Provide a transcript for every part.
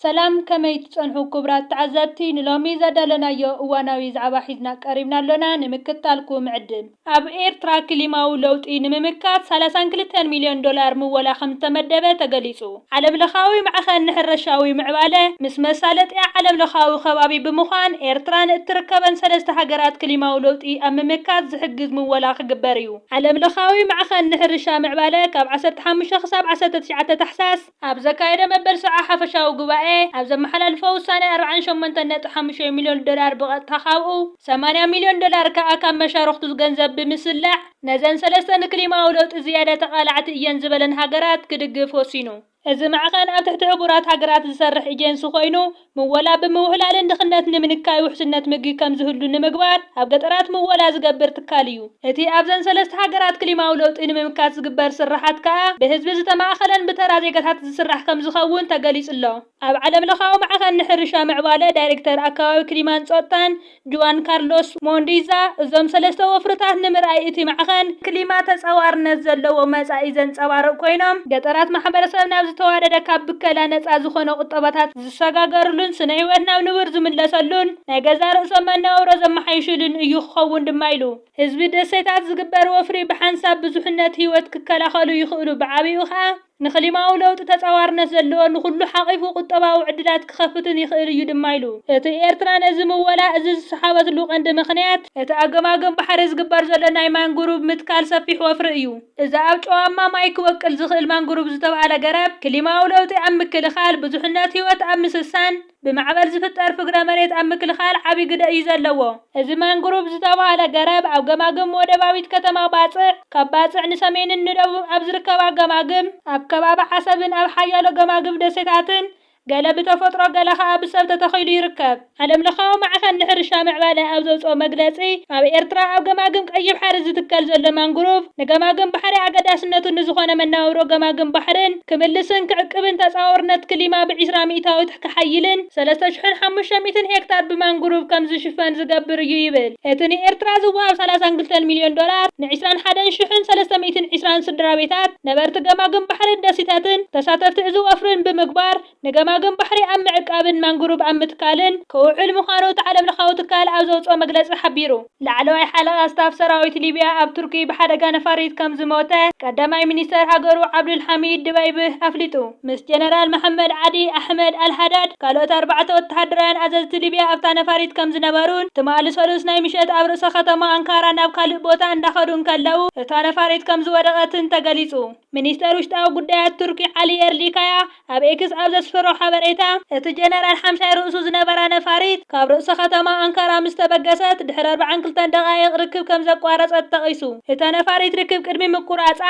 ሰላም ከመይ ትጸንሑ ኩቡራት ተዓዘብቲ ንሎሚ ዘዳለናዮ እዋናዊ ዛዕባ ሒዝና ቀሪብና ኣሎና ንምክታልኩም ንዕድም። ኣብ ኤርትራ ክሊማዊ ለውጢ ንምምካት ሰላሳን ክልተን ሚልዮን ዶላር ምወላ ከምዝተመደበ ተገሊጹ። ዓለምለኻዊ ማዕኸን ንሕረሻዊ ምዕባለ፣ ምስ መሳለጥያ ዓለምለኻዊ ከባቢ ብምዃን ኤርትራ ንእትርከበን ሰለስተ ሃገራት ክሊማዊ ለውጢ ኣብ ምምካት ዝሕግዝ ምወላ ክግበር እዩ። ዓለምለኻዊ ማዕኸን ንሕርሻ ምዕባለ ካብ ዓሰርተ ሓሙሽተ ክሳብ ዓሰርተ ትሽዓተ ታሕሳስ፣ ኣብ ዘካየዶ መበል ሰብዓ ሓፈሻዊ ጉባኤ ኣብ ዘመሓላልፎ ውሳነ ኣርብዓን ሸሞንተን ነጥቢ ሓሙሽተ ሚልዮን ዶላር ብቐጥታ ካብኡ ሰማንያ ሚልዮን ዶላር ከኣ ካብ መሻርኽቱ ዝገንዘብ ብምስላዕ ነዘን ሰለስተ ንክሊማዊ ለውጢ ዝያዳ ተቓላዕቲ እየን ዝበለን ሃገራት ክድግፍ ወሲኑ። እዚ ማዕኸን ኣብ ትሕቲ ሕቡራት ሃገራት ዝሰርሕ ኤጀንሲ ኮይኑ፣ ምወላ ብምውህላልን ድኽነት ንምንካይ ውሕስነት ምግቢ ከም ዝህሉ ንምግባር ኣብ ገጠራት ምወላ ዝገብር ትካል እዩ። እቲ ኣብዘን ሰለስተ ሃገራት ክሊማዊ ለውጢ ንምምካት ዝግበር ስርሓት ከኣ ብህዝቢ ዝተማእከለን ብተራ ዜጋታት ዝስራሕ ከም ዝኸውን ተገሊጹ'ሎ። ኣብ ዓለምለኻዊ ማዕኸን ንሕርሻ ምዕባለ ዳይሬክተር ኣከባቢ ክሊማን ጾታን ጁኣን ካርሎስ ሞንዲዛ፣ እዞም ሰለስተ ወፍርታት ንምርኣይ እቲ ማዕኸን ክሊማ ተጻዋርነት ዘለዎ መጻኢ ዘንጸባርቕ ኮይኖም፣ ገጠራት ማሕበረሰብ ናብ ዝተዋደደ ካብ ብከላ ነጻ ዝኾነ ቁጠባታት ዝሰጋገርሉን ስነ-ህይወት ናብ ንቡር ዝምለሰሉን ናይ ገዛእ ርእሶም መነባብሮ ዘመሓይሽሉን እዩ ክኸውን ድማ ኢሉ። ህዝቢ ደሴታት ዝግበር ወፍሪ ብሓንሳብ ብዙሕነት ህይወት ክከላኸሉ ይኽእሉ፣ ብዓቢኡ ከኣ፣ ንክሊማዊ ለውጢ ተጻዋርነት ዘለዎ ንኹሉ ሓቒፉ ቁጠባዊ ዕድላት ክኸፍትን ይኽእል እዩ ድማ ኢሉ። እቲ ኤርትራ ነዚ ምወላ እዚ ዝሰሓበትሉ ቀንዲ ምኽንያት፣ እቲ ኣብ ገማግም ባሕሪ ዝግበር ዘሎ ናይ ማንግሩቭ ምትካል ሰፊሕ ወፍሪ እዩ። እዚ ኣብ ጨዋማ ማይ ክበቁል ዝኽእል ማንግሩቭ ዝተብሃለ ገረብ፣ ክሊማዊ ለውጢ ኣብ ምክልኻል፣ ብዙሕነት ህይወት ኣብ ምስሳን፣ ብማዕበል ዝፍጠር ፍግረ መሬት ኣብ ምክልኻል ዓቢ ግደ እዩ ዘለዎ። እዚ ማንግሩቭ ዝተባህለ ገረብ ኣብ ገማግም ወደባዊት ከተማ ባጽዕ፣ ካብ ባጽዕ ንሰሜንን ንደቡብን ኣብ ዝርከባ ገማግም፣ ኣብ ከባቢ ዓሰብን ኣብ ሓያሎ ገማግም ደሴታትን፣ ገለ ብተፈጥሮ ገለ ከኣ ብሰብ ተተኺሉ ይርከብ። ዓለምለኻዊ ማዕኸን ንሕርሻ ምዕባለ ኣብ ዘውጽኦ መግለጺ፣ ኣብ ኤርትራ ኣብ ገማግም ቀይሕ ባሕሪ ዝትከል ዘሎ ማንግሩቭ፣ ንገማግም ባሕሪ ኣገዳስነቱ ንዝኾነ መነባብሮ ገማግም ባሕርን ክምልስን ክዕቅብን ተጻዋርነት ክሊማ ብዒስራ ሚእታዊት ክሓይልን ሰለስተ ሽሕን ሓሙሽተ ሚእትን ሄክታር ብማንግሩቭ ከምዝሽፈን ዝገብር እዩ ይብል እቲ ንኤርትራ ዝወሃብ ሰላሳን ክልተን ሚልዮን ዶላር ንዒስራን ሓደን ሽሕን ሰለስተ ሚእትን ዒስራን ስድራቤታት ነበርቲ ገማግም ባሕርን ደሴታትን ተሳተፍቲ እዚ ወፍርን ብምግባር ንገማግም ባሕሪ ኣብ ምዕቃብን ማንግሩቭ ኣብ ምትካልን ክውዕል ምዃኑ እቲ ዓለምለኻዊ ትካል ኣብ ዘውጽኦ መግለጺ ሓቢሩ። ላዕለዋይ ሓለቓ ስታፍ ሰራዊት ሊብያ ኣብ ቱርኪ ብሓደጋ ነፋሪት ከም ዝሞተ ቀዳማይ ሚኒስተር ሃገሩ ዓብዱልሓሚድ ድበይብህ ኣፍሊጡ። ምስ ጀነራል መሓመድ ዓዲ ኣሕመድ ኣልሃዳድ ካልኦት ኣርባዕተ ወተሃደራውያን ኣዘዝቲ ሊብያ ኣብታ ነፋሪት ከም ዝነበሩን ትማሊ ሰሉስ ናይ ምሸት ኣብ ርእሰ ከተማ ኣንካራ ናብ ካልእ ቦታ እንዳኸዱ እንከለዉ እታ ነፋሪት ከም ዝወደቐትን ተገሊጹ። ሚኒስተር ውሽጣዊ ጉዳያት ቱርኪ ዓሊ የርሊካያ ኣብ ኤክስ ኣብ ዘስፈሮ ሓበሬታ፣ እቲ ጀነራል ሓምሻይ ርእሱ ዝነበራ ነፋሪት ካብ ርእሰ ከተማ ኣንካራ ምስ ተበገሰት ድሕሪ ኣርብዓን ክልተን ደቓይቕ ርክብ ከም ዘቋረጸት ጠቒሱ። እታ ነፋሪት ርክብ ቅድሚ ምቁራጻ፣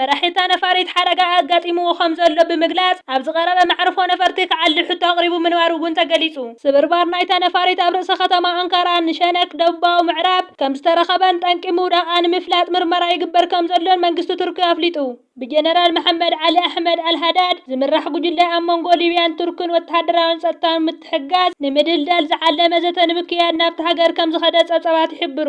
መራሒ እታ ነፋሪት ሓደጋ ኣጋጢምዎ ከም ዘሎ ብምግላጽ ኣብ ዝቐረበ መዕርፎ ነፈርቲ ክዓሊ ሕቶ ኣቕሪቡ ምንባሩ'ውን ተገሊጹ። ስብርባር ናይታ ነፋሪት ኣብ ርእሰ ከተማ ኣንካራ ንሸነክ፣ ደቡባዊ ምዕራብ፣ ከምዝተረኸበን ጠንቂ ምውዳቓ ንምፍላጥ ምርመራ ይግበር ከምዘሎን መንግስቲ ቱርኪ ኣፍሊጡ። ብጀነራል መሓመድ ዓሊ ኣሕመድ ኣልሃዳድ ዝምራሕ ጉጅለ ኣብ መንጎ ሊብያን ቱርክን ወተሃደራውን ጸጥታውን ምትሕግጋዝ ንምድልዳል ዝዓለመ ዘተ ንምክያድ ናብታ ሃገር ከምዝኸደ ጸብጻባት ይሕብሩ።